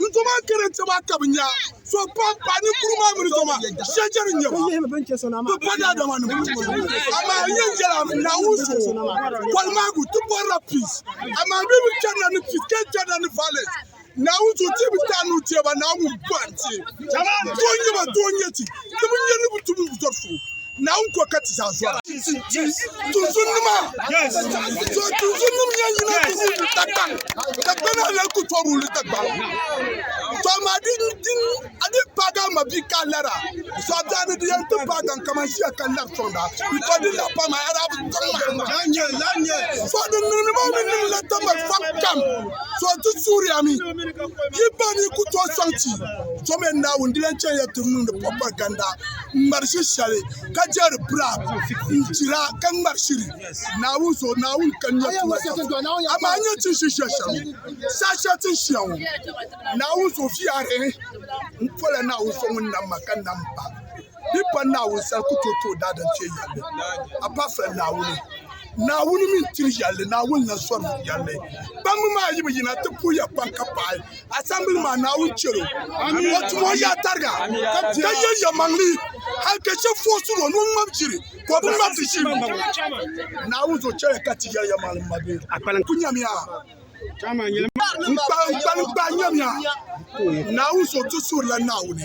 Ni zoma n kara ti maa ka bi nya so pam paɣa ninkuru maa mini zoma shɛchɛ ni nyɛba bi pa daadama ni amaa n yɛn yɛla naawuni so bɔli maagu ti bɔrila peace amaa bi bi chɛnila ni peace ka chɛnila ni violence naawuni so ti bi taa ni o teeba naawuni bɔhim ti doo nyɛba doo nyɛ ti ti bi nyɛ ni bi tum zɔri so Naawuni ko ka ti zaa zɔra. Tuuntumdima so tuuntumdim yɛn yina ti wuhi di Dagban ka gbana lan ku tɔri wuli Dagban so maa di a di paagi a mabi ka lara so a biɛni di yɛn ti paagi n kaman ʒiya ka lari tɔŋda di to di la pam a yɛra so din niŋdi maa mi niŋ la tamba fam kam so ti suhiri ami yi ba ni ku to sɔŋ ti so mi Naawuni di yɛn chɛn ya ti niŋdi propaganda n ŋmari shiri shɛli ka jɛri bira n chira ka ŋmari shiri Naawuni zuɣu Naawuni ka nyɛ tuma amaa nyɛ tin shi shɛli shɛm saa shɛli tin shia ŋɔ Naawuni zuɣu fiyaare n pola Naawuni so ŋun nam ma ka nam pa bi pa Naawuni sani ku tooi tooi daadam fiɛ yɛlli apart from Naawuni Naawuni mi n tiri yɛlli Naawuni na sɔri yɛlli kpambi maa yi bi yina ti puhiya kpaŋ ka paai asambili maa Naawuni chɛl o o tum o yaɣa tariga ka yɛ yɛmaŋli hali ka shɛb foosi o ni o ŋmab jiri ka o bi ŋmab di shim Naawuni zo chɛya ka ti yɛli yɛmaŋli mma bee n ku nyamiya n kpalim kpalim nyamiya Naawuni zo tu suurila Naawuni